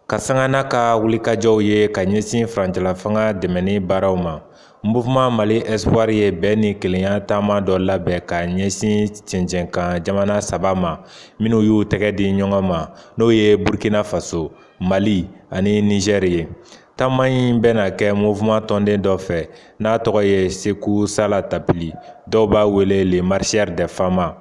ka sanga n'a ka wulikajɔw ye ka ɲɛsin furancɛlafanga dɛmɛni baaraw ma mouvement mali espoir ye bɛn ni kelenya taama dɔ labɛn ka ɲɛsin cɛncɛnkan jamana saba ma minnu y'u tɛgɛ di ɲɔgɔn ma n'o ye burkina faso mali ani nizɛri ye Taama in bɛna kɛ mouvement tɔnden dɔ fɛ n'a tɔgɔ ye Seku Sala Tapili dɔw b'a wele le marcheur des femmes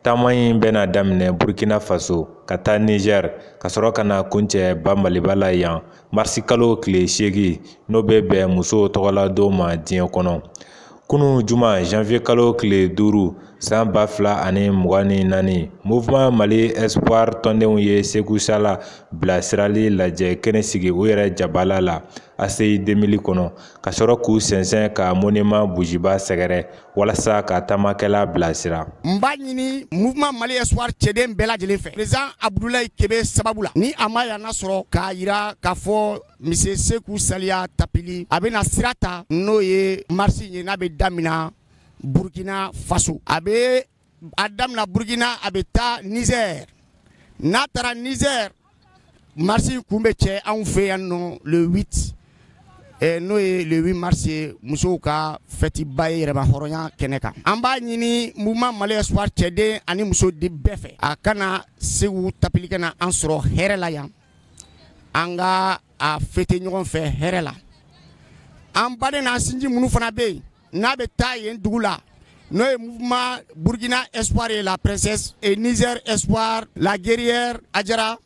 taama in bɛna daminɛ Burkina Faso ka taa Niger ka sɔrɔ ka na kuncɛ ba Maliba la yan marisikalo tile seegin n'o bɛ bɛn musow tɔgɔladon ma diɲɛ kɔnɔ kunun juma janvier kalo tile duuru san ba fila ani mugan ni naani mouvement mali espoir tɔndenw ye seku sala bilasirali lajɛ kɛnɛ sigi u yɛrɛ jabala la ACI 2000 kɔnɔ ka sɔrɔ k'u sɛnsɛn ka monument bujiba sɛgɛrɛ walasa ka taamakɛla bilasira n b'a ɲini mouvement mali espoir cɛden bɛɛ lajɛlen fɛ président abudulayi kebe sababu la ni a ma yan na sɔrɔ k'a yira k'a fɔ Monsieur Seku Saliya Tapili a bɛna sira ta n'o ye marche ye n'a bɛ daminɛ burukina faso a bɛ a daminɛ burukina a bɛ taa Niger n'a taara Niger marche kun bɛ cɛ anw fɛ yan nɔ le huit n'o ye le huit mars ye musow ka fɛtiba ye yɛrɛmahɔrɔnya kɛnɛ kan an b'a ɲini mouvement Mali Espoir cɛden ani musoden bɛɛ fɛ a ka na Seku Tapili ka na an sɔrɔ hɛrɛ la yan an ka a fêter ɲɔgɔn fɛ hɛrɛ la an baden n'an sinji minnu fana bɛ yen n'a bɛ taa yen dugu la n'o ye mouvement burkina espoir ye la princesse et niger espoir la guerrière ajara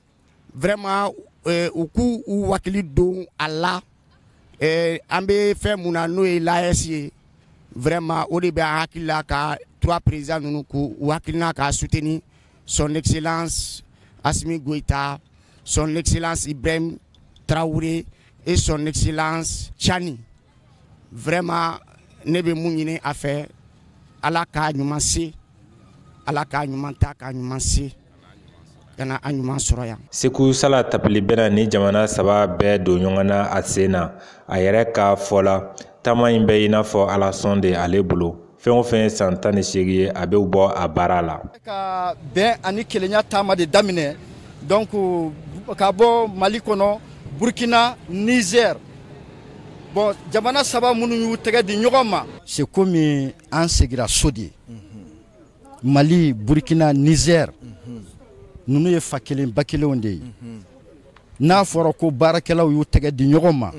vraiment euh, u k'u u wakili don a la euh, an bɛ fɛn mun na n'o ye l'AES ye vraiment o de bɛ an hakili la ka trois présidents ninnu k'u u hakilina k'a soutenir son excellence Assimi Goïta, son excellence Ibrahim Traoré et son excellence Tiani. Vraiment, ne bɛ mun ɲini a fɛ Ala k'a ɲuman se Ala k'a ɲuman ta k'a ɲuman se ka na an ɲuman sɔrɔ yan. Seku Sala Tapili bɛna ni jamana saba bɛɛ don ɲɔgɔn na a sen na a yɛrɛ ka fɔ la taama in bɛ i n'a fɔ alasɔn de ale bolo. fɛn o fɛn ye san tan ni seegin ye a bɛ bɔ a baara la ka bɛn ani kelenya taama de daminɛ donc ka bɔ mali kɔnɔ burkina niger bon jamana saba minnu y'u tɛgɛ di ɲɔgɔn ma c'est comme an segira so de mali burkina niger ninnu ye fa kelen ba kelenw de ye n'a fɔra ko baarakɛlaw y'u tɛgɛ di ɲɔgɔn ma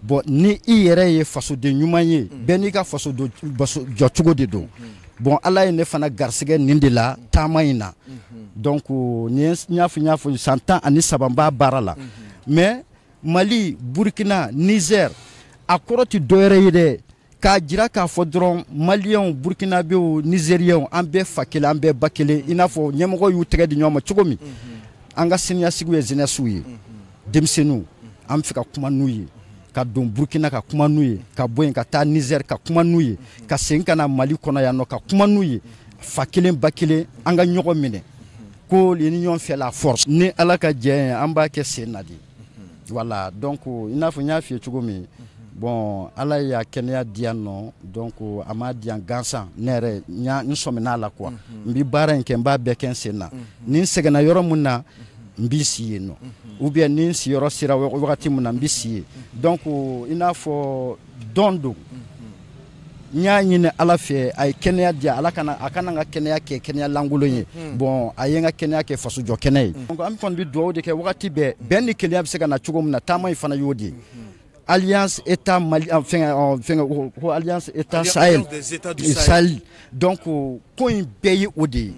bon ni i yɛrɛ ye fasoden ɲuman ye bɛɛ n'i ka faso jɔ cogo de don bon ala ye ne fana garisɛgɛ nin de la taama in na donc ni n y'a fɔ n y'a fɔ san tan ani saba n b'a baara la mais mali burukina nizɛr a kɔrɔ tɛ dɔwɛrɛ ye dɛ k'a jira k'a fɔ dɔrɔn maliyɛnw burkinabew nizeriyɛnw an bɛɛ fa kelen an bɛɛ ba kelen i n'a fɔ ɲɛmɔgɔ y'u tɛgɛ di ɲɔgɔn ma cogo min an ka siniɲɛsigiw ye jeunesse ye denmisɛnninw an bɛ fɛ ka kuma n'u ye ka don burkina ka kuma n'u ye ka bɔ yen ka taa nizɛri ka kuma n'u ye ka segin ka na mali kɔnɔ yan nɔ ka kuma n'u ye fa kelen ba kelen an ka ɲɔgɔn minɛ ko l'union fait la force ni ala ka jɛ ye an b'a kɛ sen na de voilà donc i n'a fɔ n y'a f'i ye cogo min bon ala y'a kɛnɛya di yan nɔ donc a m'a di yan gansan ne yɛrɛ n sɔmina a la quoi n bɛ baara in kɛ n b'a bɛɛ kɛ n sen na ni n sɛgɛnna yɔrɔ min na n bɛ si yen nɔ ou bien ni siyɔrɔ sera wagati min na n bɛ si yen donc i n'a fɔ don don n y'a ɲini ala fɛ a ye kɛnɛya di yan ala kana a kana n ka kɛnɛya kɛ kɛnɛya lankolon ye hmm. bon a ye n ka kɛnɛya kɛ fasojɔ kɛnɛya ye hmm. an kɔni bɛ dugawu de kɛ wagati bɛɛ bɛn ni kelenya bɛ se ka na cogo min na taama in fana y'o de ye hmm. alliance état mali euh, fɛngɛ euh, fɛngɛ ko alliance état sahel sahel donc ko in bɛɛ ye o de ye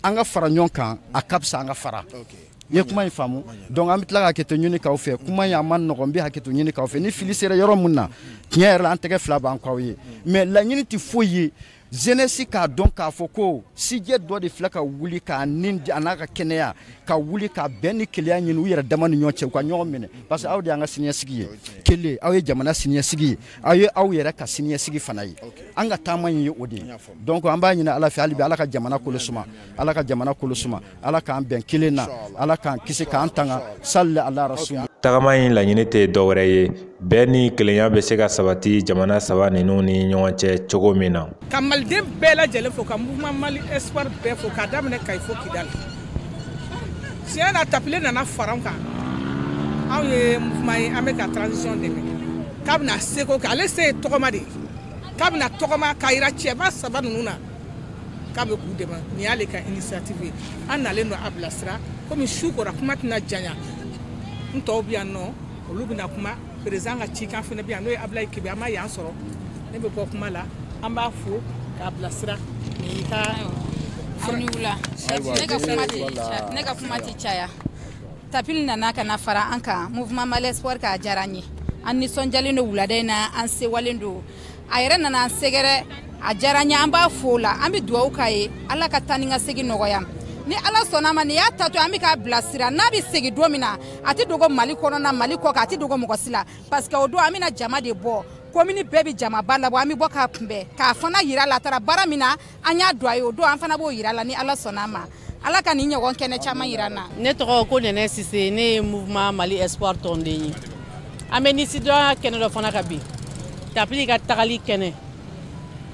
an ka fara ɲɔgɔn kan a ka fisa an ka fara okay. n ye kuma in faamu donc an bɛ tila ka hakɛto ɲini k'aw fɛ kuma in a man nɔgɔn n bɛ hakɛto ɲini k'aw fɛ ni fili sera yɔrɔ min na tiɲɛ yɛrɛ la an tɛgɛ fila b'an k'aw ye mais laɲini tɛ foyi ye jeunesse k'a dɔn k'a fɔ ko sijɛ dɔ de filɛ ka wuli k'a ni a n'a ka kɛnɛya ka wuli ka bɛn ni kelenya ɲini u yɛrɛ dama ni ɲɔgɔn cɛ u ka ɲɔgɔn minɛ parce que aw de y'an ka siniɲɛsigi ye kelen aw ye jamana siniɲɛsigi ye aw ye aw yɛrɛ ka siniɲɛsigi fana ye an ka taama in ye o de ye donc an b'a ɲini ala fɛ hali bi ala ka jamana kolo suma ala ka jamana kolo suma ala k'an bɛn kelen na ala k'an kisi k'an tanga salli ala rasul tagama in laɲini tɛ dɔwɛrɛ ye bɛn ni kelenya bɛ se ka sabati jamana saba ninnu ni ɲɔgɔn cɛ cogo min na ka maliden bɛɛ lajɛlen fo ka mouvement mali espoir bɛɛ fo k'a daminɛ kayi fo kidali tiɲɛ na tapili nana fara an kan anw ye mouvement ye an bɛ ka transition dɛmɛ k'a bɛna seko kɛ ale se ye tɔgɔma de ye k'a bɛna tɔgɔma k'a jira cɛba saba ninnu na k'a bɛ k'u dɛmɛ nin y'ale ka initiative ye an nalen don a bilasira komi su kora kuma tɛna janya n tɔw bɛ yan nɔ olu bɛna kuma président ka cikan fana bɛ yan n'o ye abulayi kebe a ma yan sɔrɔ ne bɛ bɔ kuma la an b'a fo k'a bilasira nin y'i ka aw ni wula ne ka kuma tɛ ne ka kuma tɛ caya tapili nana ka na fara an kan mouvement mali espoir k'a diyara an ye an nisɔndiyalen don wulada in na an sewalen don a yɛrɛ nana sɛgɛrɛ a diyara an ye an b'a fo o la an bɛ dugawu k'a ye ala ka taa ni ka segin nɔgɔya ni ala sɔnna ma nin y'a taatɔ an bɛ k'a bilasira n'a bɛ segin don min na a tɛ dogo mali kɔnɔna mali kɔ kan a tɛ dogo mɔgɔ si la parce que o don an bɛna jama de bɔ komini bɛɛ bɛ jamaba labɔ an bɛ bɔ k'a kunbɛn k'a fana yira la a taara baara min na an y'a dɔn a ye o don an fana b'o yira la ni ala sɔnna a ma ala ka nin ɲɔgɔn kɛnɛ caman yira an na ne tɔgɔ ko nɛnɛ sise ne ye mouvement mali espoir tɔnden ye an bɛ nisɔndiya kɛnɛ dɔ fana kan bi tapili ka tagali kɛnɛ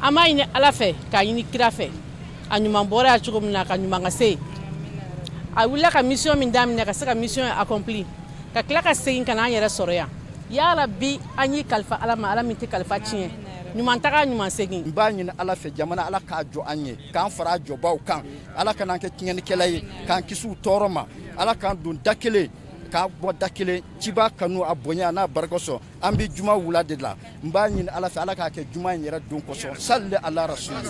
an b'a ɲini ala fɛ k'a ɲini kira fɛ a ɲuman bɔra yan cogo min na k'a ɲuman ka se a wulila ka mission min daminɛ ka se ka mission accompli ka tila ka segin ka na an yɛrɛ sɔrɔ yan yarabi an y'i kalifa ala ma ala min tɛ kalifa tiɲɛ ɲuman taga ɲuman segin n b'a ɲini ala fɛ jamana ala k'a jɔ an ye k'an fara a jɔbaw kan ala kan'an kɛ tiɲɛnikɛla ye k'an kisi u tɔɔrɔ ma ala k'an don da kelen k'an bɔ da kelen ciba kanu a bonya n'a barika kosɔn an bɛ juma wula de la n b'a ɲini ala fɛ ala k'a kɛ juma in yɛrɛ don kosɔn salli ala rasuli